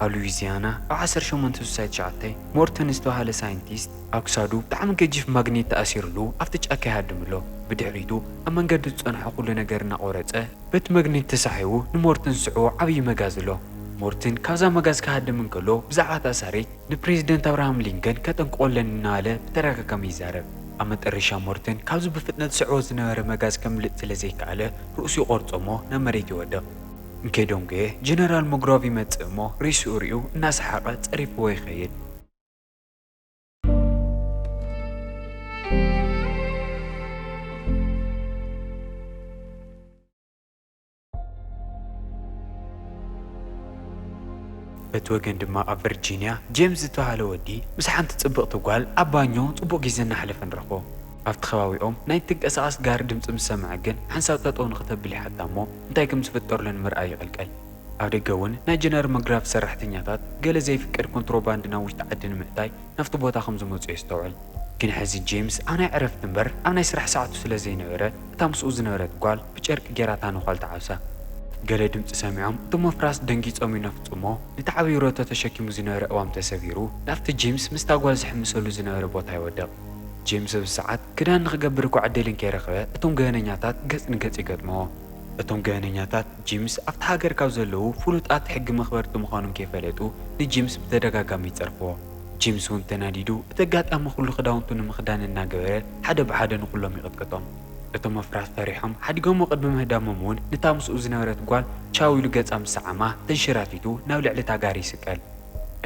ኣብ ሉዊዚያና ኣብ ዓሰርተ ሸሞንተ ስሳይ ትሽዓተ፣ ሞርተን ዝተባህለ ሳይንቲስት ኣብ ክሳዱ ብጣዕሚ ገጂፍ ማግኔት ተኣሲርሉ ኣብቲ ጫካ ይሃድም ኣሎ። ብድሕሪቱ ኣብ መንገዱ ዝጸንሖ ኩሉ ነገር እናቖረጸ፣ በቲ መግኔት ተሳሒቡ ንሞርተን ዝስዕቦ ዓብዪ መጋዝ ኣሎ። ሞርተን ካብዛ መጋዝ ክሃድም እንከሎ ብዛዕባ እታ ኣሳሪት ንፕሬዚደንት ኣብርሃም ሊንከን ከጠንቅቖ ኣለኒ እናበለ ብተደጋጋሚ ይዛረብ። ኣብ መጠረሻ ሞርተን ካብዚ ብፍጥነት ዝስዕቦ ዝነበረ መጋዝ ከምልጥ ስለዘይከኣለ ርእሱ ይቖርጾ እሞ ናብ መሬት ይወድቕ። እንኴዶንጎየ ጀነራል ሞግሮቭ ይመጽእ እሞ ሪስኡ ሪኡ እናሰሓቐ ጸሪፍዎ ይኸይድ። በቲ ወገን ድማ ኣብ ቨርጂንያ ጄምስ ዝተባህለ ወዲ ምስ ሓንቲ ጽብቕቲ ጓል ኣብ ባኞ ጽቡቕ ግዜ እናሕለፈ ንረኽቦ። ኣብቲ ከባቢኦም ናይ ትንቀሳቐስ ጋሪ ድምጺ ምስ ሰምዐ ግን ሓንሳብ ጠጠው ንኽተብል ይሓታ'ሞ እንታይ ከም ዝፍጠርሉ ንምርኣይ ይቕልቀል። ኣብ ደገ እውን ናይ ጀነራል መግራቭ ሰራሕተኛታት ገለ ዘይፍቀድ ኮንትሮባንድ ናብ ውሽጢ ዓዲ ንምእታይ ናብቲ ቦታ ከም ዝመጹ የስተውዕል። ግን ሕዚ ጄምስ ኣብ ናይ ዕረፍቲ እምበር ኣብ ናይ ስራሕ ሰዓቱ ስለ ዘይነበረ እታ ምስኡ ዝነበረት ጓል ብጨርቂ ጌራ እታ ነዃል ተዓብሳ። ገለ ድምጺ ሰሚዖም እቶም ወፍራስ ደንጊጾም ይነፍጹ'ሞ ነቲ ዓብይ ሮቶ ተሸኪሙ ዝነበረ እዋም ተሰቢሩ ናብቲ ጄምስ ምስታ ጓል ዝሕምሰሉ ዝነበረ ቦታ ይወድቕ። ጄምስ ኣብዚ ሰዓት ክዳን ንኽገብር እኳ ዕድል እንከይረኽበ እቶም ገበነኛታት ገጽ ንገጽ ይገጥምዎ። እቶም ገበነኛታት ጂምስ ኣብታ ሃገር ካብ ዘለዉ ፍሉጣት ሕጊ መኽበርቲ ምዃኖም ከይፈለጡ ንጂምስ ብተደጋጋሚ ይጸርፍዎ። ጂምስ እውን ተናዲዱ እቲ ኣጋጣሚ ኩሉ ክዳውንቱ ንምኽዳን እናገበረ ሓደ ብሓደ ንኹሎም ይቕጥቅጦም። እቶም ኣፍራስ ፈሪሖም ሓዲጎምዎ ቅድሚ ምህዳሞም እውን ንታ ምስኡ ዝነበረት ጓል ቻው ኢሉ ገጻ ምስ ሰዓማ ተንሸራቲቱ ናብ ልዕሊ እታ ጋሪ ይስቀል።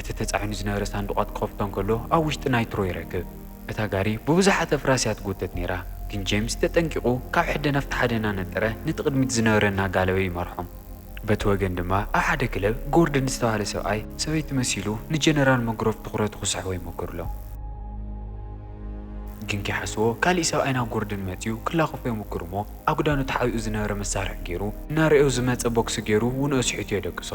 እቲ ተጻዒኑ ዝነበረ ሳንዱቓት ክኸፍቶ እንከሎ ኣብ ውሽጢ ናይትሮ ይረክብ። እታ ጋሪ ብብዙሓት ኣፍራስ እያ ትጉተት ነይራ፣ ግን ጄምስ ተጠንቂቑ ካብ ሕደ ናብቲ ሓደ እናነጠረ ነቲ ቅድሚት ዝነበረ እናጋለበ ይመርሖም። በቲ ወገን ድማ ኣብ ሓደ ክለብ ጎርደን ዝተባህለ ሰብኣይ ሰበይቲ መሲሉ ንጀነራል መግሮቭ ትኹረቱ ክስሕቦ ይሞክርሎም። ግን ከይሓስቦ ካሊእ ሰብኣይ ናብ ጎርደን መጺኡ ክላኸፎ ይሙክር እሞ ኣብ ግዳኑ ተሓቢኡ ዝነበረ መሳርሒ ገይሩ እናረእዮ ዝመጸ ቦክሲ ገይሩ ውንኦ ስሒቱ የደቅሶ።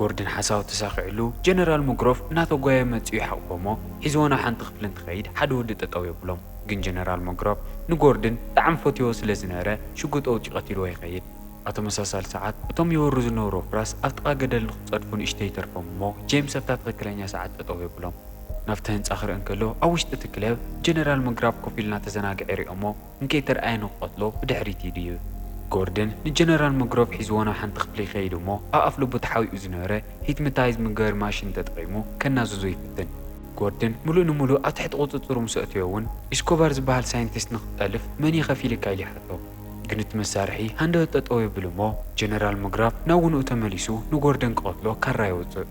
ጎርድን ሓሳቡ ተሳኺዕሉ ጀነራል ሞግሮፍ እናተጓየ መጺኡ ይሓቑፎ'ሞ ሒዝዎ ናብ ሓንቲ ክፍሊ እንትኸይድ ሓደ ወዲ ጠጠው የብሎም ግን ጀነራል ሞግሮፍ ንጎርድን ብጣዕሚ ፈትይዎ ስለ ዝነበረ ሽጉጥ ኣውጺኡ ቀቲልዎ ይኸይድ። ኣብ ተመሳሳሊ ሰዓት እቶም ይወሩ ዝነበሩ ኣፍራስ ኣብ ጥቓ ገደል ንኽጸድፉ ንእሽተይ ይተርፎም እሞ ጄምስ ኣብታ ትኽክለኛ ሰዓት ጠጠው የብሎም። ናብቲ ህንጻ ክርኢ እንከሎ ኣብ ውሽጢ እቲ ክለብ ጀነራል ሞግራፍ ኮፍ ኢሉ እናተዘናግዐ ይሪኦ'ሞ እንከይተርኣየ ንክቐትሎ ብድሕሪት ይድይብ። ጎርደን ንጀነራል መግሮቭ ሒዝዎ ናብ ሓንቲ ክፍሊ ይኸይድ እሞ ኣብ ኣፍልቡ ተሓቢኡ ዝነበረ ሂፕንታይዝ ምግበር ማሽን ተጠቒሙ ከናዝዞ ይፍትን። ጎርደን ምሉእ ንምሉእ ኣብ ትሕቲ ቁጽጽሩ ምስ ኣእተዮ እውን ኢስኮባር ዝበሃል ሳይንቲስት ንክትጠልፍ መን እየ ከፊልካ ኢሉ ይሓቶ። ግን እቲ መሳርሒ ሃንደበት ጠጠው የብል እሞ ጀነራል መግራቭ ናብ ውንኡ ተመሊሱ ንጎርደን ክቐትሎ ካራ የውጽእ።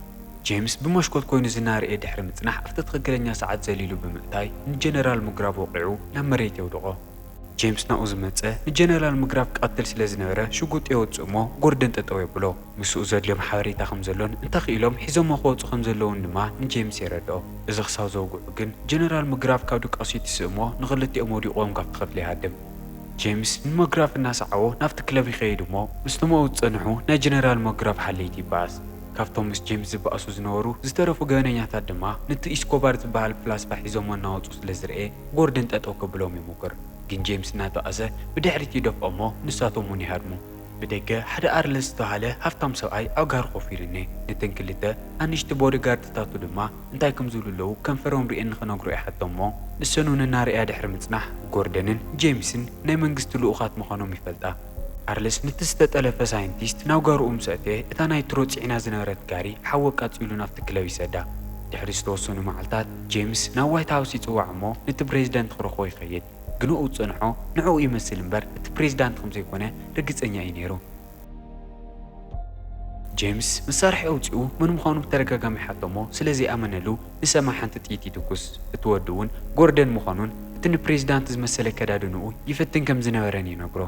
ጄምስ ብመሽኮት ኮይኑ ዝናረኤ ድሕሪ ምጽናሕ ኣብቲ ትኽክለኛ ሰዓት ዘሊሉ ብምእታይ ንጀነራል ሙግራቭ ወቒዑ ናብ መሬት የውድቖ። ጄምስ ናብኡ ዝመጸ ንጀነራል ሙግራቭ ክቐትል ስለ ዝነበረ ሽጉጥ የውጽእ እሞ ጎርደን ጠጠው የብሎ። ምስኡ ዘድልዮም ሓበሬታ ከም ዘሎን እንተኽኢሎም ሒዞሞ ክወጹ ከም ዘለዉን ድማ ንጄምስ የረድኦ። እዚ ክሳብ ዘውግዑ ግን ጀነራል ሙግራቭ ካብ ድቃሱ ይትስእ እሞ ንኽልቲኦም ወዲቖም ካብቲ ክፍሊ ይሃድም። ጄምስ ንሙግራቭ እናሰዓቦ ናብቲ ክለብ ይኸይድ እሞ ምስቶም ኣብኡ ዝጸንሑ ናይ ጀነራል ሙግራቭ ሓለይቲ ይበኣስ። ካብቶም ምስ ጄምስ ዝባኣሱ ዝነበሩ ዝተረፉ ገበነኛታት ድማ ንቲ ኢስኮባር ዝባሃል ፍላስፋ ሒዞሞ እናወጹ ስለ ዝረኤ ጎርደን ጠጠው ከብሎም ይሞክር ግን ጄምስ እናተቃዘ ብድሕሪት ይደፍኦ እሞ ንሳቶም ውን ይሃድሙ። ብደገ ሓደ ኣርለስ ዝተባሃለ ሃፍታም ሰብኣይ ኣብ ጋሪ ኮፍ ኢሉ እኔ ነተን ክልተ ኣንሽቲ ቦዲ ጋርድታቱ ድማ እንታይ ከም ዝብሉ ኣለው ከንፈሮም ሪኤን ንክነግሮ ይሓቶም እሞ ንሰን ውን እናረእያ ድሕሪ ምጽናሕ ጎርደንን ጄምስን ናይ መንግስቲ ልኡኻት ምዃኖም ይፈልጣ ኣርል ስሚት ዝተጠለፈ ሳይንቲስት ናብ ጋርኡ ምስ ኣተወ፣ እታ ናይ ትሮ ጽዒና ዝነበረት ጋሪ ሓዊ ኣቃጺሉ ናብቲ ክለብ ይሰዳ። ድሕሪ ዝተወሰኑ መዓልታት፣ ጄምስ ናብ ዋይት ሃውስ ይጽዋዕ እሞ ነቲ ብረዚደንት ክረኽቦ ይኸይድ። ግንኡ ዝጸንሖ ንዕኡ ይመስል እምበር እቲ ፕረዚዳንት ከም ዘይኮነ ርግጸኛ እዩ ነይሩ። ጄምስ መሳርሒ ኣውጺኡ መን ምዃኑ ብተደጋጋሚ ሓቶ እሞ ስለ ዘይኣመነሉ፣ ንሰማ ሓንቲ ጥይት ይትኩስ እቲ ወዲ እውን ጎርደን ምዃኑን እቲ ንፕሬዚዳንት ዝመሰለ ኣከዳድንኡ ይፍትን ከም ዝነበረን ይነግሮ።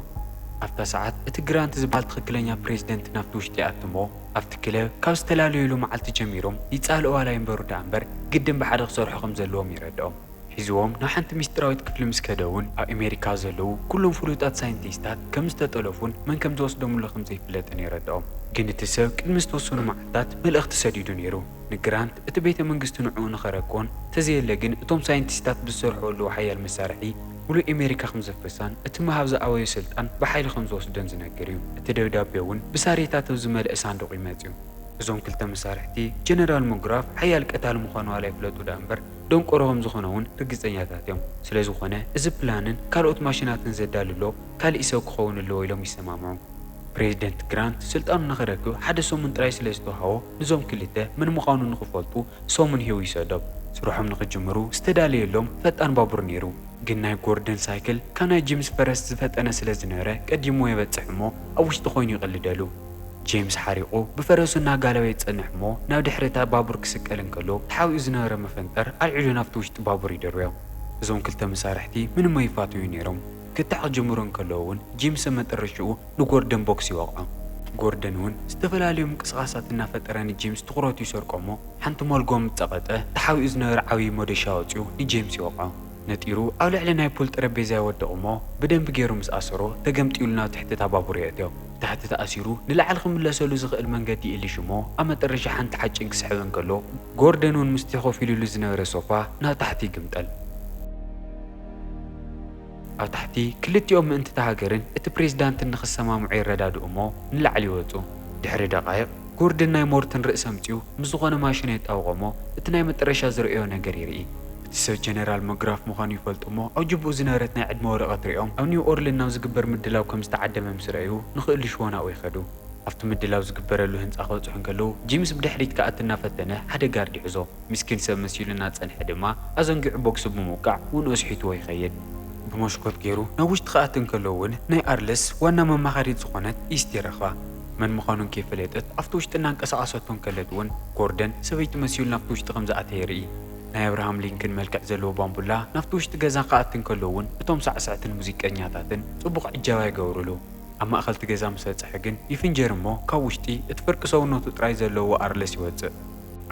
ኣብታ ሰዓት እቲ ግራንት ዝበሃል ትኽክለኛ ፕሬዚደንት ናብቲ ውሽጢ ይኣቱ እሞ ኣብቲ ክለብ ካብ ዝተላለዩሉ መዓልቲ ጀሚሮም ይፃልኡ ዋላ ይንበሩ ደኣ እምበር ግድን ብሓደ ክሰርሑ ከም ዘለዎም ይረደኦም። ሒዝዎም ናብ ሓንቲ ሚስጢራዊት ክፍሊ ምስ ከደ እውን ኣብ ኣሜሪካ ዘለዉ ኩሎም ፍሉጣት ሳይንቲስታት ከም ዝተጠለፉን መን ከም ዝወስዶምሉ ከም ዘይፍለጥን ይረደኦም። ግን እቲ ሰብ ቅድሚ ዝተወሰኑ መዓልታት መልእኽቲ ሰዲዱ ነይሩ። ንግራንት እቲ ቤተ መንግስቲ ንዕኡ ንኸረክቦን ተዘየለ ግን እቶም ሳይንቲስታት ብዝሰርሑ ኣለዉ ሓያል መሳርሒ ሙሉእ ኤሜሪካ ከምዘፍርሳን እቲ ምሃብ ዝኣበዮ ስልጣን ብሓይሊ ከምዝወስዶን ዝነግር እዩ እቲ ደብዳቤ እውን ብሳሬታት ኣብ ዝመልእ ሳንዱቕ እዩ መጺኡ እዞም ክልተ መሳርሕቲ ጀነራል ሙግራፍ ሓያል ቀታሊ ምዃኑ ዋላ ይፍለጡ ድኣ እምበር ደንቆሮ ከምዝኾነ እውን ርግጸኛታት እዮም ስለዝኾነ እዚ ፕላንን ካልኦት ማሽናትን ዘዳልሎ ካሊእ ሰብ ክኸውን ኣለዎ ኢሎም ይሰማምዑ ፕሬዝደንት ግራንት ስልጣኑ ንኸረክብ ሓደ ሰሙን ጥራይ ስለዝተውሃቦ ንዞም ክልተ መን ምዃኑ ንኽፈልጡ ሰሙን ሂቡ ይሰዶም። ስርሖም ንኽጅምሩ ዝተዳለየሎም ፈጣን ባቡር ነይሩ። ግን ናይ ጎርደን ሳይክል ካብ ናይ ጂምስ ፈረስ ዝፈጠነ ስለ ዝነበረ ቀዲምዎ የበጽሕ እሞ ኣብ ውሽጢ ኮይኑ ይቕልደሉ። ጂምስ ሓሪቑ ብፈረሱ እናጋለበ ይጸንሕ እሞ ናብ ድሕሪ እታ ባቡር ክስቀል እንከሎ ተሓቢኡ ዝነበረ መፈንጠር ኣልዒሉ ናብቲ ውሽጢ ባቡር ይድርብዮ። እዞም ክልተ መሳርሕቲ ምንሞ ይፋተዩ ነይሮም። ክትዕ ክጅምሩ እንከለዉ ውን ጂምሰ መጠረሽትኡ ንጎርደን ቦክስ ይወቕዖ። ጎርደን ውን ዝተፈላለዩ ምንቅስቓሳት እናፈጠረ ንጂምስ ትኹረቱ ይሰርቆ እሞ ሓንቲ ሞልጎ ምስ ጸቐጠ ተሓቢኡ ዝነበረ ዓብዪ ሞዶሻ ኣውጺኡ ንጂምስ ይወቕዖ። ነጢሩ ኣብ ልዕሊ ናይ ፑል ጠረጴዛ ይወድቕ እሞ ብደንቢ ገይሩ ምስ ኣሰሮ ተገምጢሉ ናብ ትሕቲ እታ ባቡር የእትዮ። ብታሕቲ ተኣሲሩ ንላዕሊ ክምለሰሉ ዝኽእል መንገዲ ይእልሽ እሞ ኣብ መጠረሻ ሓንቲ ሓጭን ክስሕብ እንከሎ ጎርደን ውን ምስቲ ኮፍ ኢሉሉ ዝነበረ ሶፋ ናብ ታሕቲ ይግምጠል። ኣብ ታሕቲ ክልቲኦም ምእንቲ'ታ ሃገርን እቲ ፕሬዝዳንትን ንኽሰማምዑ የረዳድኡ'ሞ ንላዕሊ ይወጹ። ድሕሪ ደቓይቕ፣ ጎርድን ናይ ሞርትን ርእሲ ኣምጺኡ ምስ ዝኾነ ማሽኑ የጣብቖ'ሞ እቲ ናይ መጠረሻ ዝርእዮ ነገር ይርኢ። እቲ ሰብ ጀነራል መግራፍ ምዃኑ ይፈልጥ'ሞ ኣብ ጅብኡ ዝነበረት ናይ ዕድመ ወረቐት ሪኦም ኣብ ኒው ኦርልን ናብ ዝግበር ምድላው ከም ዝተዓደመ ምስ ረኣዩ ንኽእልሽዎ ናብኡ ይኸዱ። ኣብቲ ምድላው ዝግበረሉ ህንጻ ክበጽሑ እንከለዉ ጂምስ ብድሕሪት ክኣቲ እናፈተነ ሓደ ጋርድ ይሕዞ። ምስኪን ሰብ መሲሉ እናጸንሐ ድማ ኣዘንጊዑ ቦክሲ ብምውቃዕ ውንኡ ኣስሒትዎ ይኸይድ። ብመስኮት ገይሩ ናብ ውሽጢ ክኣቲ እንከሎ እውን ናይ ኣርልስ ዋና መማኸሪት ዝኾነት ኢስቲ ረኽባ። መን ምዃኑ እንከይፈለጠት ኣብቲ ውሽጢ እናንቀሳቐሰቶ እንከለት እውን ጎርደን ሰበይቲ መሲሉ ናብቲ ውሽጢ ከም ዝኣተየ የርኢ። ናይ ኣብርሃም ሊንክን መልክዕ ዘለዎ ባምቡላ ናብቲ ውሽጢ ገዛ ክኣቲ እንከሎ እውን እቶም ሳዕሰዕትን ሙዚቀኛታትን ጽቡቕ ዕጃባ ይገብሩሉ። ኣብ ማእከል'ቲ ገዛ ምስ በጽሐ ግን ይፍንጀር እሞ ካብ ውሽጢ እቲ ፍርቂ ሰውነቱ ጥራይ ዘለዎ ኣርልስ ይወጽእ።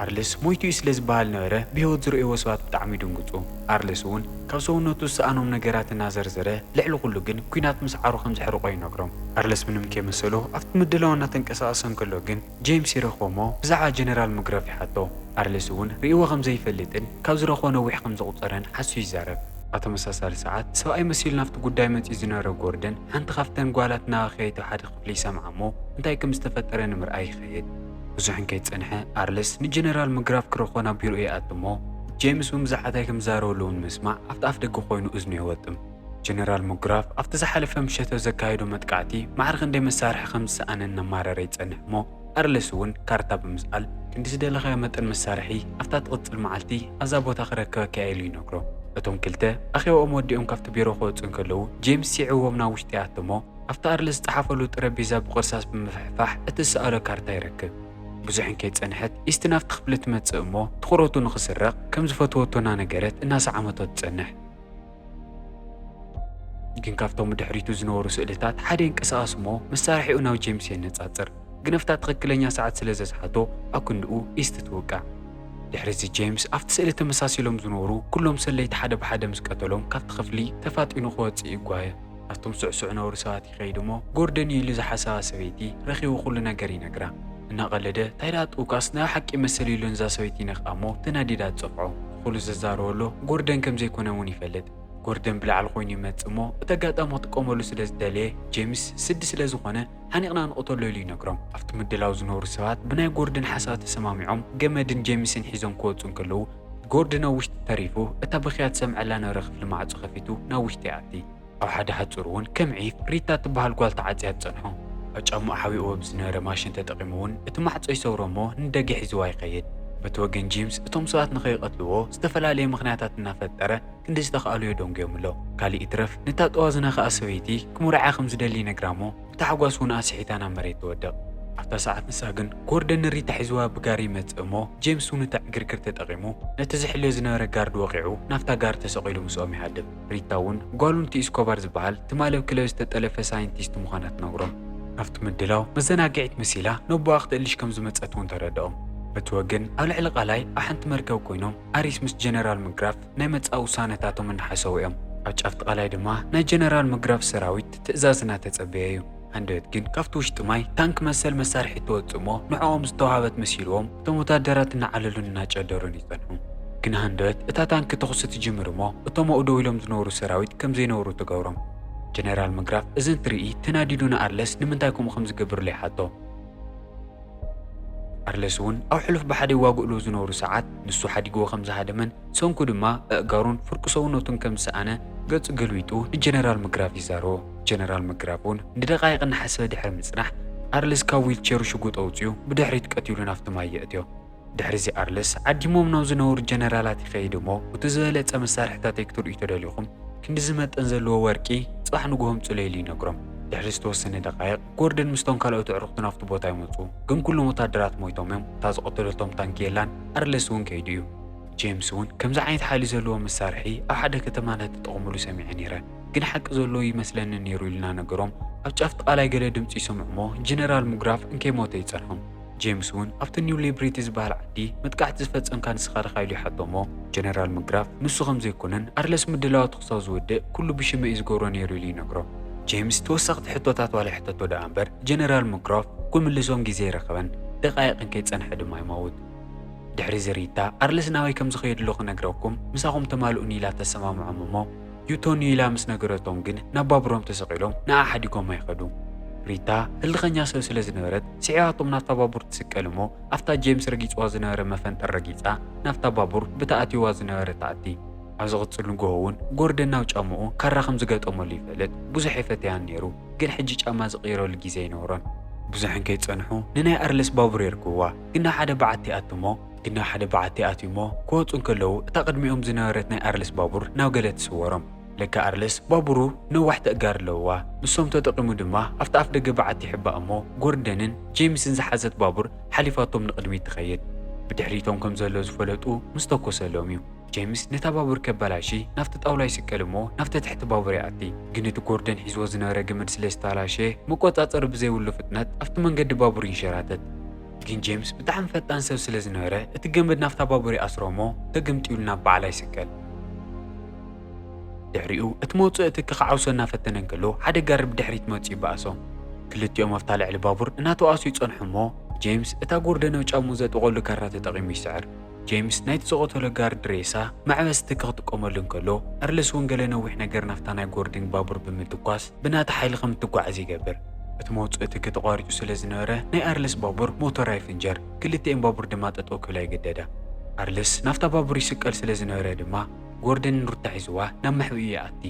ኣርልስ ሞይቱ እዩ ስለ ዝበሃል ነበረ ብህይወት ዝርእይዎ ሰባት ብጣዕሚ ይድንግጹ። ኣርልስ እውን ካብ ሰውነቱ ዝሰኣኖም ነገራት እናዘርዘረ ልዕሊ ኩሉ ግን ኩናት ምስዓሩ ከም ዘሕርቖ ይነግሮም። ኣርልስ ምንም ከይመሰሎ ኣብቲ ምድላው እናተንቀሳቐሰ እንከሎ ግን ጀይምስ ይረኽቦ እሞ ብዛዕባ ጀነራል ምግራፍ ይሓቶ። ኣርልስ እውን ርእይዎ ከም ዘይፈልጥን ካብ ዝረኽቦ ነዊሕ ከም ዘቑጸረን ሓሱ ይዛረብ። ኣብ ተመሳሳሊ ሰዓት ሰብኣይ መሲሉ ናብቲ ጉዳይ መጺኡ ዝነበረ ጎርደን ሓንቲ ካብተን ጓላት እናበኸየቶ ሓደ ክፍሊ ይሰምዓ እሞ እንታይ ከም ዝተፈጠረ ንምርኣይ ይኸይድ። ብዙሕን ከይጸንሐ ኣርልስ ንጀነራል ምግራፍ ክረኽቦ ናብ ቢሮኡ ይኣቱ እሞ ጀይምስ እውን ብዛዕባ እንታይ ከም ዝዛረበሉ እውን ምስማዕ ኣብቲ ኣፍደገ ኮይኑ እዝኑ የወጥም። ጀነራል ምግራፍ ኣብቲ ዝሓለፈ ምሸተ ዘካየዶ መጥቃዕቲ ማዕረ ክንደይ መሳርሒ ከም ዝሰኣነ እናማረረ ይጸንሕ እሞ ኣርልስ እውን ካርታ ብምስኣል ክንዲ ዝደለኻዮ መጠን መሳርሒ ኣብታ እትቕጽል መዓልቲ ኣብዛ ቦታ ክረክበካ እየ ኢሉ ይነግሮ። እቶም ክልተ ኣኼባኦም ወዲኦም ካብቲ ቢሮ ክወጹ እንከለዉ ጀይምስ ሲዒብዎም ናብ ውሽጢ ይኣቱ እሞ ኣብቲ ኣርለ ዝጸሓፈሉ ጠረጴዛ ብቕርሳስ ብምፍሕፋሕ እቲ ዝሰኣሎ ካርታ ይረክብ። ብዙሕን ከይጸንሐት ኢስቲ ናብቲ ክፍሊ ትመጽእ እሞ ትኹረቱ ንኽስረቕ ከም ዝፈተወቶ እናነገረት እናሰዓመቶ ትጸንሕ። ግን ካብቶም ብድሕሪቱ ዝነበሩ ስእልታት ሓደ ይንቀሳቐስ እሞ መሳርሒኡ ናብ ጄምስ የነጻጽር። ግነፍታ ትኽክለኛ ሰዓት ስለ ዘስሓቶ ኣብ ክንድኡ ኢስቲ ትውቃዕ። ድሕሪ እዚ ጄምስ ኣብቲ ስእሊ ተመሳሲሎም ዝነበሩ ኩሎም ሰለይቲ ሓደ ብሓደ ምስ ቀተሎም ካብቲ ክፍሊ ተፋጢኑ ክወጽእ ይጓየ። ኣብቶም ስዕሱዕ ነውሪ ሰባት ይኸይድ እሞ ጎርደን እዩ ኢሉ ዝሓሰባ ሰበይቲ ረኺቡ ኩሉ ነገር ይነግራ። እናቐለደ ታይ ደኣ ጥውቃስ ናይ ብሓቂ መሰል የሎን እዛ ሰበይቲ ይነክኣ እሞ ተናዲዳ ትጸፍዖ። ንኹሉ ዘዛረበሎ ጎርደን ከምዘይኮነ እውን ይፈልጥ። ጎርደን ብላዕሊ ኮይኑ ይመጽእ እሞ እቲ ኣጋጣሚ ክጥቀመሉ ስለ ዝደለየ ጄምስ ስዲ ስለ ዝኾነ ሓኒቕና ንቕተሎ ኢሉ ይነግሮም። ኣብቲ ምድላው ዝነብሩ ሰባት ብናይ ጎርደን ሓሳብ ተሰማሚዖም ገመድን ጄምስን ሒዞም ክወጹ እንከለዉ፣ ጎርዲ ናብ ውሽጢ ተሪፉ፣ እታ ብኽያ ትሰምዐላ ነበረ ክፍሊ ማዕጾ ከፊቱ ናብ ውሽጢ ይኣቲ። ኣብ ሓደ ሃጹር እውን ከም ዒፍ ሪታ እትበሃል ጓል ተዓጽያ ትጸንሖ። ኣብ ጫምኡ ሓቢእዎ ብዝነበረ ማሽን ተጠቒሙ እውን እቲ ማዕጾ ይሰብሮ እሞ ንደገ ሒዝዋ ይኸይድ። በቲ ወገን ጂምስ እቶም ሰባት ንኸይቐትልዎ ዝተፈላለየ ምኽንያታት እናፈጠረ ክንዲ ዝተኽኣሎ የደንጉዮም ኣሎ። ካልእ ይትረፍ ነታ ጠዋዝና ከኣ ሰበይቲ ክምርዓያ ከም ዝደሊ ይነግራ እሞ፣ ታሕጓስ እውን ኣስሒታ ናብ መሬት ትወድቕ። ኣብታ ሰዓት ንሳ ግን ጎርደን ንሪታ ሒዝዋ ብጋሪ ይመጽእ እሞ ጄምስ እውን እቲ ዕግርግር ተጠቒሙ ነቲ ዝሕልዮ ዝነበረ ጋርድ ወቒዑ ናብታ ጋሪ ተሰቒሉ ምስኦም ይሃድም። ሪታ እውን ጓሉ ንቲ ኢስኮባር ዝበሃል ትማሊ ኣብ ክለብ ዝተጠለፈ ሳይንቲስት ምዃና ትነግሮም። ኣብቲ ምድላው መዘናግዒት መሲላ ነቦኣ ክትእልሽ ከም ዝመጸት እውን ተረድኦም። በቲ ወገን ኣብ ልዕሊ ቃላይ ኣብ ሓንቲ መርከብ ኮይኖም ኣሪስ ምስ ጀነራል ምግራፍ ናይ መጻኢ ውሳነታቶም እናሓሰቡ እዮም። ኣብ ጫፍቲ ቃላይ ድማ ናይ ጀነራል ምግራፍ ሰራዊት ትእዛዝና ተጸበየ እዩ። ሃንደበት ግን ካብቲ ውሽጢ ማይ ታንክ መሰል መሳርሒ ትወጽእ እሞ ንዕኦም ዝተዋህበት መሲልዎም እቶም ወታደራት እናዓለሉን እናጨደሩን ይጸንሑ። ግን ሃንደበት እታ ታንክ ተኹሲ ትጅምር እሞ እቶም ኣብኡ ደው ኢሎም ዝነበሩ ሰራዊት ከም ዘይነብሩ ትገብሮም። ጀነራል መግራፍ እዚ እንትርኢ ተናዲዱ ንኣርለስ ንምንታይ ከምኡ ከም ዝገብርሉ ይሓቶ። ቻርለስ እውን ኣብ ሕሉፍ ብሓደ ይዋግእሉ ዝነበሩ ሰዓት ንሱ ሓዲግዎ ከም ዝሃደመን ሰንኩ ድማ ኣእጋሩን ፍርቂ ሰውነቱን ከም ዝሰኣነ ገጹ ገልቢጡ ንጀነራል መግራፍ ይዛረቦ። ጀነራል መግራፍ እውን ንደቓይቕ እናሓሰበ ድሕሪ ምጽናሕ ኣርለስ ካብ ዊልቼሩ ሽጉጥ ኣውጺኡ ብድሕሪት ቀቲሉ ናብቲ ማይ የእትዮ። ድሕሪዚ ኣርለስ ዓዲሞም ናብ ዝነበሩ ጀነራላት ይኸይድ እሞ እቲ ዝበለጸ መሳርሒታተይ ክትርእዩ ተደሊኹም ክንድዚ መጠን ዘለዎ ወርቂ ጽባሕ ንግሆ ኣምጹለይ ኢሉ ይነግሮም። ድሕሪ ዝተወሰነ ደቓይቕ። ጎርደን ምስቶም ካልኦት ኣዕሩኽቱን ኣብቲ ቦታ ይመጹ፣ ግን ኩሎም ወተሃደራት ሞይቶም እዮም፣ እታ ዝቐተለቶም ታንኪ የላን፣ ኣርለስ እውን ከይዱ እዩ። ጄምስ እውን ከምዚ ዓይነት ሓይሊ ዘለዎ መሳርሒ ኣብ ሓደ ከተማ እናተጠቐሙሉ ሰሚዐ ነይረ፣ ግን ሓቂ ዘለዎ እይመስለንን ነይሩ ኢልና ነገሮም። ኣብ ጫፍ'ቲ ቃላይ ገለ ድምጺ ይሰምዑ እሞ ጀነራል ሙግራፍ እንከይሞተ ይጸንሖም። ጄምስ እውን ኣብቲ ኒው ሊብሪቲ ዝበሃል ዓዲ መጥቃዕቲ ዝፈጸምካ ንስኻ ዲኻ ኢሉ ይሓቶ እሞ ጀነራል ሙግራፍ ንሱ ከምዘይኮነን ኣርለስ ምድላዋቱ ክሳብ ዝውድእ ኩሉ ብሽመይ እዩ ዝገብሮ ነይሩ ኢሉ ይነግሮ። ጄምስ ተወሰኽቲ ሕቶታት ዋላ ይሕተቶ ደኣ እምበር ጀነራል ምክሮፍ ክምልሶም ግዜ ኣይረኸበን፣ ደቓይቕን ከይጸንሐ ድማ ይመውት። ድሕሪ'ዚ ሪታ ኣርለስ ናበይ ከም ዝኸየድሉ ክነግረኩም ምሳኹም ተማልኡኒ ኢላ ተሰማምዖም እሞ ዩቶንዩ ኢላ ምስ ነገረቶም ግን ናብ ባቡሮም ተሰቒሎም ንኣ ሓዲጎማ ይኸዱ። ሪታ ህልኸኛ ሰብ ስለ ዝነበረት ስዒባቶም ናብታ ባቡር ትስቀል እሞ ኣብታ ጄምስ ረጊጽዋ ዝነበረ መፈንጠር ረጊጻ ናብታ ባቡር ብታ ኣትይዋ ዝነበረ ትኣቲ። ኣብ ዝቕጽል ንግሆ'ውን ጎርደን ናብ ጫምኡ ካራ ከም ዝገጠመሉ ይፈልጥ። ብዙሕ የፈተያን ነይሩ፣ ግን ሕጂ ጫማ ዝቕይረሉ ግዜ ኣይነበሮን። ብዙሕን ከይጸንሑ ንናይ ኣርለስ ባቡር የርክብዋ። ግና ሓደ በዓቲ ኣቱ'ሞ። ግና ሓደ በዓቲ ኣቱ'ሞ ክወጹ እንከለዉ እታ ቅድሚኦም ዝነበረት ናይ ኣርለስ ባቡር ናብ ገለ ትስወሮም። ለካ ኣርለስ ባቡሩ ነዋሕቲ ኣእጋር ኣለዉዋ። ንሶም ተጠቒሙ ድማ ኣብታ ኣፍደገ በዓቲ ይሕባእ እሞ ጎርደንን ጄምስን ዝሓዘት ባቡር ሓሊፋቶም ንቕድሚት ትኸይድ። ብድሕሪቶም ከም ዘሎ ዝፈለጡ ምስ ተኮሰሎም'ዩ። ጀምስ ነታ ባቡር ከባላሺ ናብቲ ጣውላ ይስቀል እሞ ናብቲ ትሕቲ ባቡር ይኣቲ። ግን እቲ ጎርደን ሒዝዎ ዝነበረ ገመድ ስለ ዝተባላሸየ መቆጻጸሪ ብዘይብሉ ፍጥነት ኣብቲ መንገዲ ባቡር ይንሸራተት። ግን ጀምስ ብጣዕሚ ፈጣን ሰብ ስለ ዝነበረ እቲ ገመድ ናብታ ባቡር ይኣስሮ እሞ ተገምጢሉ ናብ በዓላ ይስቀል። ድሕሪኡ እቲ መውጽኢ ትኪ ክዓውሶ እናፈተነ እንከሎ ሓደ ጋሪ ብድሕሪት መጽዩ ይበኣሶም። ክልቲኦም ኣብታ ልዕሊ ባቡር እናተወኣሱ ይጸንሑ እሞ ጀምስ እታ ጎርደን ኣብ ጫምኡ ዘጥብቐሉ ካራ ተጠቒሙ ይስዕር። ጀምስ ናይቲ ዝቐተሎ ጋርድ ሬሳ መዕበስቲ ከክጥቀመሉ እንከሎ፣ ኣርለስ ወንገለ ነዊሕ ነገር ናብታ ናይ ጎርዲንግ ባቡር ብምትኳስ ብናቲ ሓይሊ ከም እትጓዓዝ ይገብር። እቲ መውጽእቲ ተቋሪጹ ስለ ዝነበረ ናይ ኣርለስ ባቡር ሞተራ ይፍንጀር፣ ክልቲኤን ባቡር ድማ ጠጠው ክብላ ይግደዳ። ኣርለስ ናብታ ባቡር ይስቀል ስለ ዝነበረ ድማ ጎርደን ንሩታ ሒዝዋ ናብ መሕብኢኡ ይኣቲ።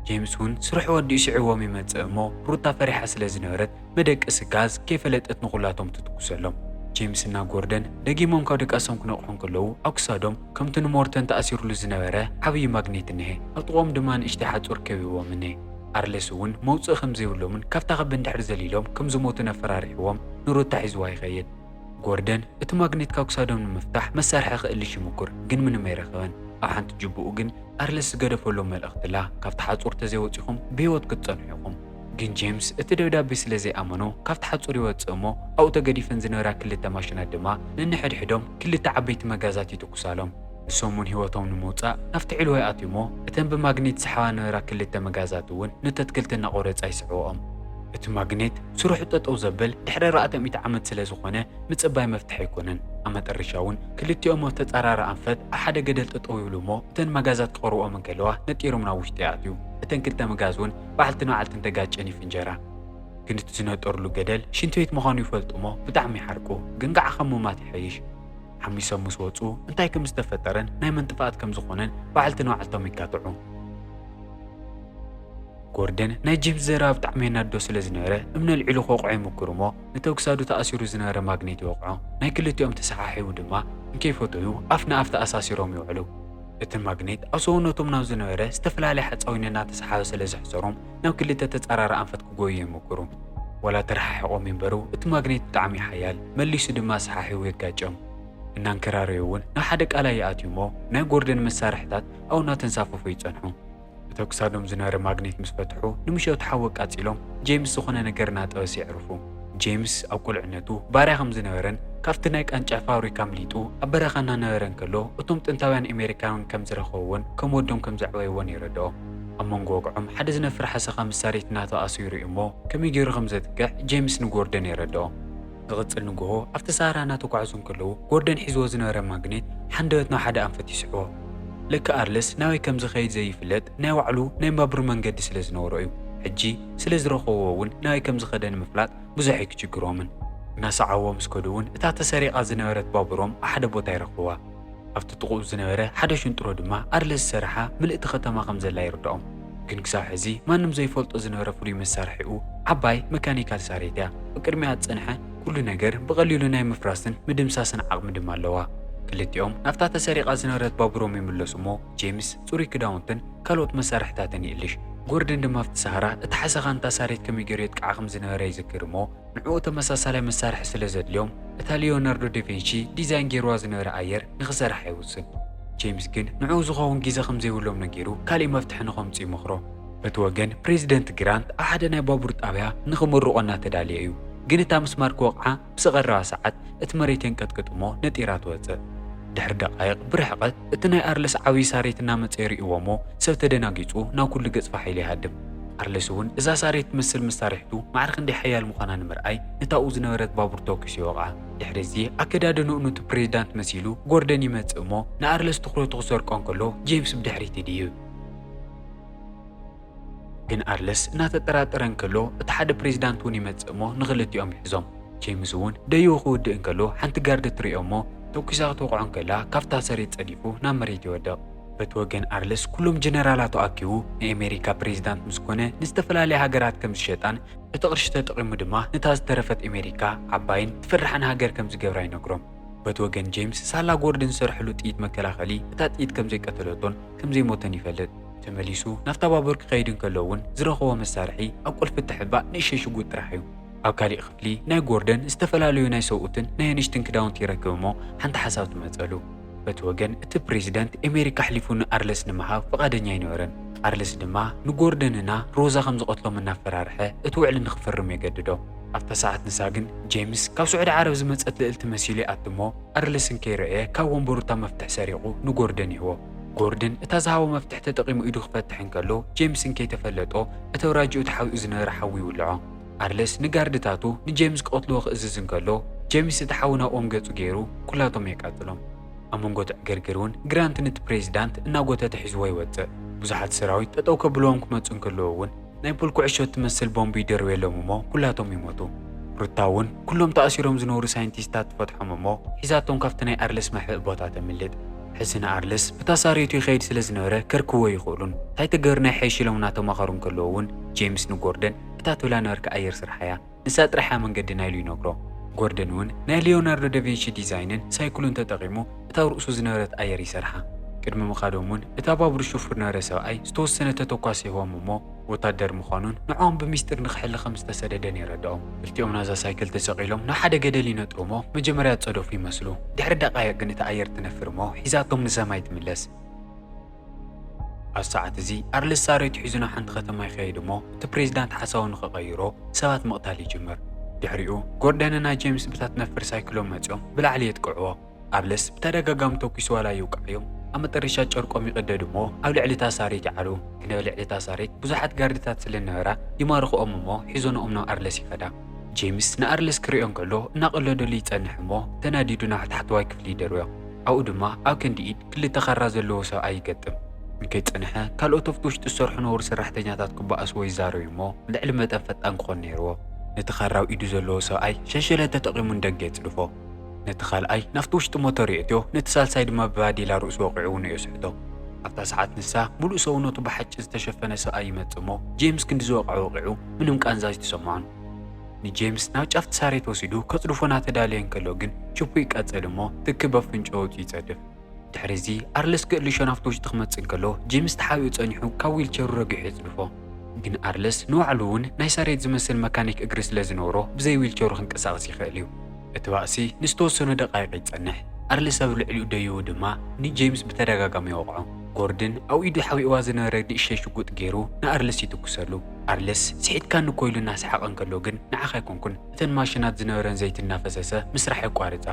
ጀምስ እውን ስርሑ ወዲኡ ስዒብዎም ይመጽእ እሞ ሩታ ፈሪሓ ስለ ዝነበረት መደቀሲ ጋዝ ከይፈለጠት ንዅላቶም ትትኩሰሎም። ጄምስ እና ጎርደን ደጊሞም ካብ ድቃሶም ክነቕሑ እንከለዉ፣ ኣብ ክሳዶም ከምቲ ንሞርተን ተኣሲሩሉ ዝነበረ ዓብዪ ማግኔት እኒሀ፣ ኣብ ጥቕኦም ድማ ንእሽተይ ሓጹር ከቢብዎም እኒሀ። ኣርለስ እውን መውጽኢ ከም ዘይብሎምን ካብታ ክቢ እንድሕር ዘሊሎም ከም ዝሞቱን ኣፈራሪሕዎም ንሩታ ሒዝዋ ይኸይድ። ጎርደን እቲ ማግኔት ካብ ክሳዶም ንምፍታሕ መሳርሒ ክእልሽ ይምኩር፣ ግን ምንም ኣይረኸበን። ኣብ ሓንቲ ጅብኡ ግን ኣርለስ ዝገደፈሎም መልእኽቲ ኣላ፣ ካብታ ሓጹር ተዘይወጺኹም ብህይወት ክትጸንሑ ኢኹም። ግን ጄምስ እቲ ደብዳቤ ስለ ዘይኣመኖ ካብቲ ሓጹር ይወጽእ እሞ ኣብኡ ተገዲፈን ዝነበራ ክልተ ማሽናት ድማ ነንሕድሕዶም ክልተ ዓበይቲ መጋዛት ይትኩሳሎም። ንሶም እውን ህይወቶም ንምውጻእ ናብቲ ዕልዋ ይኣትዩ እሞ እተን ብማግኔት ዝስሓባ ዝነበራ ክልተ መጋዛት እውን ነቲ ኣትክልቲ እናቖረጻ ይስዕብኦም። እቲ ማግኔት ስርሑ ጠጠው ዘብል ድሕሪ ኣርባዕተ ሚእቲ ዓመት ስለ ዝኾነ ምጽባይ መፍትሒ ኣይኮነን። ኣብ መጠረሻ እውን ክልቲኦም ኣብ ተጻራሪ ኣንፈት ኣብ ሓደ ገደል ጠጠው ይብሉ እሞ እተን መጋዛት ክቐርብኦም እንከለዋ ነጢሮም ናብ ውሽጢ ይኣትዩ። እተን ክልተ መጋዝ እውን በዓልቲ ንበዓልቲ እንተጋጨን ይፍንጀራ። ግን እቲ ዝነጠርሉ ገደል ሽንቲ ቤት ምዃኑ ይፈልጡ'ሞ ብጣዕሚ ይሓርቁ። ግን ከኣ ካብ ምሟት ይሐይሽ። ሓሚሶም ምስ ወጹ እንታይ ከም ዝተፈጠረን ናይ መን ጥፍኣት ከም ዝኾነን በዓልቲ ንበዓልቶም ይጋትዑ። ጎርደን ናይ ጄምስ ዘረባ ብጣዕሚ የናድዶ ስለ ዝነበረ እምኒ ኣልዒሉ ክወቕዖ ይሙኩር'ሞ ነቲ ኣብ ክሳዱ ተኣሲሩ ዝነበረ ማግኔት ይወቕዖ። ናይ ክልቲኦም ተሰሓሒቡ ድማ እንከይፈተዩ ኣፍ ንኣፍ ተኣሳሲሮም ይውዕሉ። እቲ ማግኔት ኣብ ሰውነቶም ናብ ዝነበረ ዝተፈላለየ ሓፃዊን እናተሰሓበ ስለ ዘሕፀሮም ናብ ክልተ ተፃራሪ ኣንፈት ክጎዩ ይምኩሩ። ዋላ ተረሓሒቆም ይንበሩ እቲ ማግኔት ብጣዕሚ እዩ ሓያል መሊሱ ድማ ኣሰሓሒቡ የጋጭም። እናንከራረዩ እውን ናብ ሓደ ቃላይ ይኣትዩ እሞ ናይ ጎርደን መሳርሕታት ኣብኡ እናተንሳፈፉ ይፀንሑ። እቶ ክሳዶም ዝነበረ ማግኔት ምስ ፈትሑ ንምሸቱ ሓዊ ኣቃጺሎም ጄምስ ዝኾነ ነገር እናጠበሰ የዕርፉ። ጄምስ ኣብ ቁልዕነቱ ባርያ ከም ዝነበረን ካብቲ ናይ ቃንጫ ፋብሪካ ኣምሊጡ ኣብ በረኻ እናነበረ እንከሎ እቶም ጥንታውያን ኤሜሪካውያን ከም ዝረኸብዎን ከም ወዶም ከም ዘዕበይዎን የረድኦ። ኣብ መንጎ ወግዖም ሓደ ዝነፍር ሓሰኻ ምስ ሳሬት እናተኣሰዩ ይርእዩ እሞ ከመይ ገይሩ ከም ዘጥቅዕ ጄምስ ንጎርደን የረድኦ። ዝቕጽል ንግሆ ኣብቲ ሰሃራ እናተጓዕዙ እንከለዉ፣ ጎርደን ሒዝዎ ዝነበረ ማግኔት ሓንደበት ናብ ሓደ ኣንፈት ይስሕቦ። ልክዕ ኣርለስ ናበይ ከም ዝኸይድ ዘይፍለጥ ናይ ባዕሉ ናይ ባቡር መንገዲ ስለ ዝነበሮ እዩ። ሕጂ ስለ ዝረኸብዎ እውን ናበይ ከም ዝኸደ ንምፍላጥ ብዙሕ ኣይክችግሮምን። እናሰዓብዎ ምስ ከዱ እውን እታ ተሰሪቓ ዝነበረት ባቡሮም ኣብ ሓደ ቦታ ይረኽብዋ። ኣብቲ ጥቕኡ ዝነበረ ሓደ ሽንጥሮ ድማ ኣድለ ዝሰረሓ ምልእቲ ከተማ ከም ዘላ ይርድኦም። ግን ክሳብ ሕዚ ማንም ዘይፈልጦ ዝነበረ ፍሉይ መሳርሒኡ ዓባይ መካኒካል ሳሬት እያ። ኣብ ቅድሚኣ ዝጸንሐ ኩሉ ነገር ብቐሊሉ ናይ ምፍራስን ምድምሳስን ዓቕሚ ድማ ኣለዋ። ክልቲኦም ናብታ ተሰሪቓ ዝነበረት ባቡሮም ይምለሱ እሞ ጄምስ ጽሩይ ክዳውንትን ካልኦት መሳርሒታትን ይእልሽ። ጎርደን ድማ ኣብቲ ሰሃራ እታ ሓሰኻ ንታ ሳሬት ከመይ ገይሩ የጥቅዓ ከም ዝነበረ ይዝክር እሞ፣ ንዕኡ ተመሳሳላይ መሳርሒ ስለ ዘድልዮም፣ እታ ሊዮናርዶ ደቬንቺ ዲዛይን ገይሩዋ ዝነበረ ኣየር ንኽሰርሕ ኣይውስን። ጄምስ ግን ንዕኡ ዝኸውን ግዜ ከም ዘይብሎም ነጊሩ ካልእ መፍትሒ ንኸምጽኡ ይመኽሮ። በቲ ወገን ፕሬዚደንት ግራንት ኣብ ሓደ ናይ ባቡር ጣብያ ንኽምርቖ እናተዳለየ እዩ። ግን እታ ምስማር ክወቕዓ ምስ ቐረባ ሰዓት እቲ መሬት የንቀጥቅጥ እሞ ነጢራ ትወጽእ። ድሕሪ ደቓይቕ ብርሕቐት። እቲ ናይ ኣርለስ ዓብይ ሳሬት እናመፀ ይሪእዎሞ ሰብ ተደናጊፁ ናብ ኩሉ ገፅ ፋሕ ኢሉ ይሃድም። ኣርለስ እውን እዛ ሳሬት ትመስል መሳርሕቱ ማዕረ ክንደይ ሓያል ምዃና ንምርኣይ ነታ ኣብኡ ዝነበረት ባቡር ተኩሱ ይወቕዓ። ድሕሪ እዚ ኣከዳድንኡ ኑቲ ፕሬዚዳንት መሲሉ ጎርደን ይመፅእ እሞ ንኣርለስ ትኹረቱ ክሰርቆ እንከሎ ጄምስ ብድሕሪት ይድይብ። ግን ኣርለስ እናተጠራጠረ እንከሎ እቲ ሓደ ፕሬዚዳንት እውን ይመፅእ እሞ ንኽልቲኦም ይሕዞም። ጄምስ እውን ደይቡ ክውድእ እንከሎ ሓንቲ ጋርዲ ትሪኦ እሞ ተኩሳ ክትወቕዖ እንከላ ካብታ ሰሬት ፀዲፉ ናብ መሬት ይወድቕ። በቲ ወገን ኣርለስ ኩሎም ጀነራላቱ ኣኪቡ ንኤሜሪካ ፕሬዚዳንት ምስ ኮነ ንዝተፈላለያ ሃገራት ከም ዝሸጣን እቲ ቕርሺ ተጠቒሙ ድማ ነታ ዝተረፈት ኤሜሪካ ዓባይን ትፍራሕን ሃገር ከም ዝገብራ ይነግሮም። በቲ ወገን ጄምስ ሳላ ጎርድን ዝሰርሐሉ ጥይት መከላኸሊ እታ ጥይት ከም ዘይቀተለቶን ከም ዘይሞተን ይፈልጥ። ተመሊሱ ናብታ ባቡር ክኸይድ እንከሎ እውን ዝረኸቦ መሳርሒ ኣብ ቁልፊ እትሕባእ ንእሽተይ ሽጉጥ ጥራሕ እዩ። ኣብ ካሊእ ክፍሊ ናይ ጎርደን ዝተፈላለዩ ናይ ሰብኡትን ናይ ኣንሽትን ክዳውንቲ ይረክብ እሞ ሓንቲ ሓሳብ ትመፀሉ። በቲ ወገን እቲ ፕሬዚደንት ኤሜሪክ ኣሕሊፉ ንኣርለስ ንምሃብ ፍቓደኛ ኣይነበረን። ኣርለስ ድማ ንጎርደን እና ሮዛ ከም ዝቐትሎም እናፈራርሐ እቲ ውዕሊ ንክፍርም የገድዶ። ኣብታ ሰዓት ንሳ ግን ጄምስ ካብ ስዑዲ ዓረብ ዝመፀት ልእልቲ መሲሉ ይኣቱ እሞ ኣርለስ እንከይረእየ ካብ ወንበሩ እታ መፍትሕ ሰሪቑ ንጎርደን ይህቦ። ጎርደን እታ ዝሃቦ መፍትሕ ተጠቒሙ ኢዱ ክፈትሕ እንከሎ፣ ጄምስ እንከይተፈለጦ እቲ ኣውራጃኡ ተሓቢኡ ዝነበረ ሓዊ ይውልዖ። ኣርለስ ንጋርድታቱ ንጄምስ ክቐትልዎ ክእዝዝ እንከሎ፣ ጄምስ እቲ ሓዊ ናብኦም ገጹ ገይሩ ኩላቶም የቃጽሎም። ኣብ መንጎ እቲ ዕግርግር እውን ግራንት ንቲ ፕሬዚዳንት እናጎተተ ሒዝዎ ይወጽእ። ብዙሓት ሰራዊት ጠጠው ከብልዎም ክመጹ እንከለዉ እውን፣ ናይ ፑል ኩዕሾ እትመስል ቦምብ ይድርብየሎም እሞ ኩላቶም ይሞቱ። ሩታ እውን ኩሎም ተኣሲሮም ዝነብሩ ሳይንቲስታት ትፈትሖም እሞ ሒዛቶም ካብቲ ናይ ኣርልስ መሕብኢ ቦታ ተምልጥ። ሕዚ ንኣርልስ ብታ ሳርየቱ ይኸይድ ስለ ዝነበረ ከርክብዎ ኣይኽእሉን። እንታይ ተገርና ይሐይሽ ኢሎም እናተማኸሩ እንከለዉ እውን ጄምስ ንጎርደን እታ ትብላ ነበርካ ኣየር ስርሓያ። ንሳ ጥራሕ እያ መንገዲ ናይሉ ይነግሮ። ጎርደን እውን ናይ ሊዮናርዶ ደቬንሺ ዲዛይንን ሳይክሉን ተጠቒሙ እታ ኣብ ርእሱ ዝነበረት ኣየር ይሰርሓ። ቅድሚ ምኻዶም እውን እታ ባቡር ሽፉር ነበረ ሰብኣይ ዝተወሰነ ተተኳሲ ይህቦም እሞ ወታደር ምዃኑን ንዕኦም ብሚስጢር ንክሕሊ ከም ዝተሰደደን የረድኦም። ክልቲኦም ናዛ ሳይክል ተሰቒሎም ናብ ሓደ ገደል ይነጥሩ እሞ መጀመርያ ዝፀደፉ ይመስሉ። ድሕሪ ደቓይቕ ግን እታ ኣየር ትነፍር እሞ ሒዛቶም ንሰማይ ትምለስ። ኣብዚ ሰዓት እዚ ኣርልስ ሳሬቱ ሒዙ ናብ ሓንቲ ከተማ ይኸይድ እሞ እቲ ፕሬዚዳንት ሓሳቡ ንኽቐይሮ ሰባት ምቕታል ይጅምር። ድሕሪኡ ጎርደንን ናይ ጄምስ ብታት ነፍር ሳይክሎም መፂኦም ብላዕሊ የጥቅዕዎ። ኣርልስ ብተደጋጋሚ ተኲሱ ዋላ ይውቃዕዮም ኣብ መጠረሻ ጨርቆም ይቕደዱ እሞ ኣብ ልዕሊ እታ ሳሬት ይዓሉ። ግን ኣብ ልዕሊ እታ ሳሬት ብዙሓት ጋርድታት ስለነበራ ይማርኹኦም እሞ ሒዞንኦም ናብ ኣርልስ ይኸዳ። ጄምስ ንኣርልስ ክሪኦ እንከሎ እናቐለደሉ ይፀንሕ እሞ ተናዲዱ ናብ ታሕተዋይ ክፍሊ ይደርብዮ። ኣብኡ ድማ ኣብ ክንዲ ኢድ ክልተ ካራ ዘለዎ ሰብኣይ ይገጥም። እንከይጸንሐ፣ ካልኦት ኣብቲ ውሽጢ ዝሰርሑ ነበሩ ሰራሕተኛታት ክበኣስዎ ይዛረዩ እሞ፣ ልዕሊ መጠን ፈጣን ክኾን ነይርዎ። ነቲ ካራ ኣብ ኢዱ ዘለዎ ሰብኣይ ሸንሸለት ተጠቒሙ ንደገ የጽድፎ። ነቲ ካልኣይ ናብቲ ውሽጢ ሞተር የእትዮ፣ ነቲ ሳልሳይ ድማ ብባዴላ ርእሱ ወቒዑ ውኑኡ የስሕቶ። ኣብታ ሰዓት ንሳ፣ ምሉእ ሰውነቱ ብሓጭ ዝተሸፈነ ሰብኣይ ይመጽእ እሞ፣ ጄምስ ክንዲ ዝወቕዐ ወቒዑ ምንም ቃንዛ ኣይተሰምዖን። ንጄምስ ናብ ጫፍ ትሳሬት ወሲዱ ከጽድፎ ናተዳለየ እንከሎ ግን ችፑ ይቃጸል እሞ ትኪ በፍንጨኡቱ ይጸድፍ። ድሕሪ እዚ ኣርለስ ገእልሾ ናብቲ ውሽጢ ክመጽእ እንከሎ ጄምስ ተሓቢኡ ጸኒሑ ካብ ዊልቸሩ ረጊሑ የጽድፎ። ግን ኣርለስ ንባዕሉ እውን ናይ ሳሬት ዝመስል መካኒክ እግሪ ስለዝነበሮ ብዘይ ዊልቸሩ ክንቀሳቐስ ይኸእል እዩ። እቲ ባእሲ ንዝተወሰኑ ደቓይቕ ይጸንሕ፣ ኣርሊ ሰብ ልዕሊኡ ደይቡ ድማ ንጀይምስ ብተደጋጋሚ ይወቕዖ። ጎርድን ኣብ ኢዱ ሓቢእዋ ዝነበረ ንእሽተይ ሽጉጥ ገይሩ ንኣርልስ ይትኩሰሉ። ኣርልስ፣ ስሒትካኒ እኮ ኢሉ እናሰሓቐ እንከሎ ግን ንዓኻ ኣይኮንኩን፣ እተን ማሽናት ዝነበረን ዘይቲ እናፈሰሰ ምስራሕ የቋርጻ።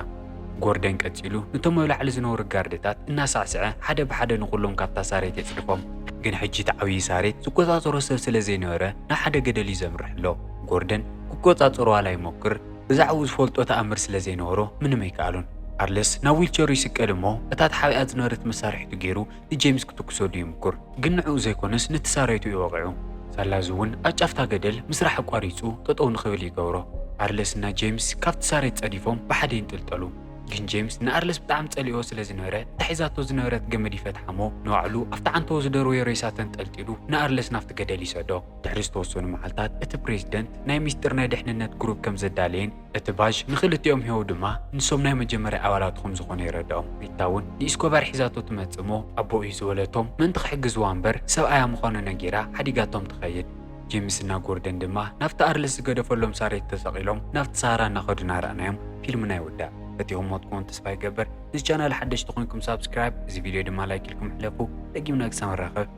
ጎርደን ቀጺሉ ነቶም ኣብ ላዕሊ ዝነበሩ ጋርድታት እናሳዕስዐ ሓደ ብሓደ ንኹሎም ካብታ ሳሬት የጽድፎም። ግን ሕጂ እቲ ዓብዪ ሳሬት ዝቆጻጸሮ ሰብ ስለ ዘይነበረ ናብ ሓደ ገደል እዩ ዘምርሕ ኣሎ። ጎርደን ክቆጻጸሮ ዋላ ይሞክር፣ ብዛዕብኡ ዝፈልጦ ተኣምር ስለ ዘይነበሮ ምንም ኣይከኣሎን። ኣርለስ ናብ ዊልቸሩ ይስቀል እሞ እታ ተሓቢኣ ዝነበረት መሳርሒቱ ገይሩ ንጄምስ ክትኩሰሉ ይምኩር። ግን ንዕኡ ዘይኮነስ ነቲ ሳራይቱ እዩ ወቒዑ። ሳላ እዚ እውን ኣብ ጫፍታ ገደል ምስራሕ ኣቋሪጹ ጠጠው ንክብል ይገብሮ። ኣርለስ እና ጄምስ ካብቲ ሳሬት ጸዲፎም ብሓደ ይንጥልጠሉ። ግን ጄምስ ንኣርለስ ብጣዕሚ ጸሊእኦ ስለ ዝነበረ እታ ሒዛቶ ዝነበረት ገመድ ይፈትሓ እሞ ንባዕሉ ኣብቲ ዓንተቦ ዝደርበዮ ሬሳ ተንጠልጢሉ ንኣርለስ ናብቲ ገደል ይሰዶ። ድሕሪ ዝተወሰኑ መዓልታት እቲ ፕሬዝደንት ናይ ሚስጢር ናይ ድሕንነት ግሩፕ ከም ዘዳለየን እቲ ቫዥ ንኽልቲኦም ሂቦ ድማ ንሶም ናይ መጀመርያ ኣባላቱ ከም ዝኾኑ የረድኦም። ሪታ እውን ንኢስኮባር ሒዛቶ ትመፅእ እሞ ኣቦ እዩ ዝበለቶም ምእንቲ ክሕግዝዋ እምበር ሰብኣያ ምዃኑ ነጊራ ሓዲጋቶም ትኸይድ። ጄምስ እና ጎርደን ድማ ናብቲ ኣርልስ ዝገደፈሎም ሳሬት ተሰቒሎም ናብቲ ሳሃራ እናኸዱ እናረኣናዮም ፊልምና ይውዳእ። ፈቲኹሞ ትኮኑ ተስፋ ይገብር። ንዚ ቻናል ሓደሽቲ ኮይንኩም ሳብስክራይብ እዚ ቪድዮ ድማ ላይክ ኢልኩም ሕለፉ። ደጊምና ክሳብ ንራኸብ።